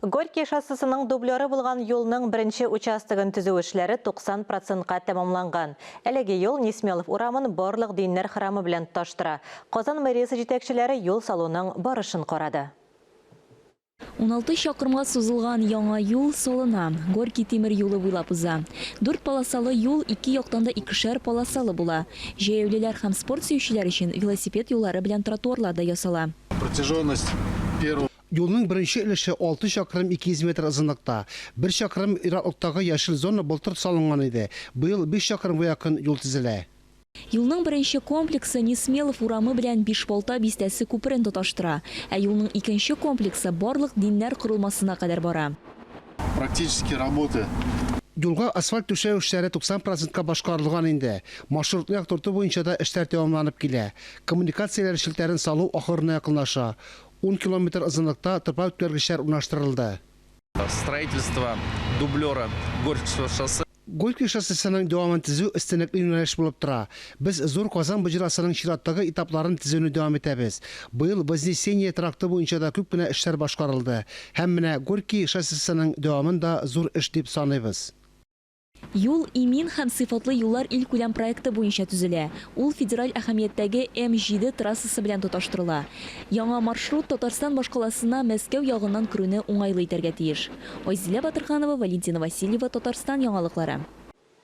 Горький шоссесының дублеры булган юлның беренче участогын төзү эшләре 90 процентка тәмамланган. Әлеге юл Несмелов урамын барлык диннәр храмы белән тоташтыра. Казан мэриясе җитәкчеләре юл салуның барышын карады. Уналты чакрымга сузылган яңа юл салына, Горький тимер юлы буйлап уза. Дүрт полосалы юл ике яктан да икешәр полосалы була. Җәяүлеләр һәм спорт сөючеләр өчен велосипед юллары белән тротуарлар да ясала. Протяженность первого. Юлның беренче өлеше алты чакрым 200 метр озынлыкта. Бер чакрым ераклыктагы яшел зона былтыр салынган иде, быел биш чакрымга якын юл төзелә. Юлның беренче комплексы Несмелов урамы белән Бишбалта бистәсе күперен тоташтыра, ә юлның икенче комплексы барлык диннәр корылмасына кадәр бара. Практические работы. Юлга асфальт түшәү эшләре 90 процентка башкарылган инде. Маршрутны яктырту буенча да эшләр дәвамланып килә. Коммуникацияләр челтәрен салу ахырына якынлаша. Ун километр озынлыкта топар үткәргечләр урнаштырылды. Строительство дублера Горьковск шоссесы. Горьковск шоссесының дәвамын төзү өстенлекле юнәлеш булып тора. Без Зур Казан боҗрасының чираттагы этапларын төзүне дәвам итәбез. Быел Вознесение тракты буенча да күп кенә эшләр башкарылды. Һәм менә Горький шоссесының дәвамын да зур эш дип саныйбыз. Юл, имин һәм сыйфатлы юллар илкүләм проекты буенча төзелә. Ул федераль әһәмияттәге М-7 трассасы белән тоташтырыла. Яңа маршрут Татарстан башкаласына Мәскәү ягыннан керүне уңайлы итәргә тиеш. Айзилә Батырханова, Валентина Васильева, Татарстан яңалыклары.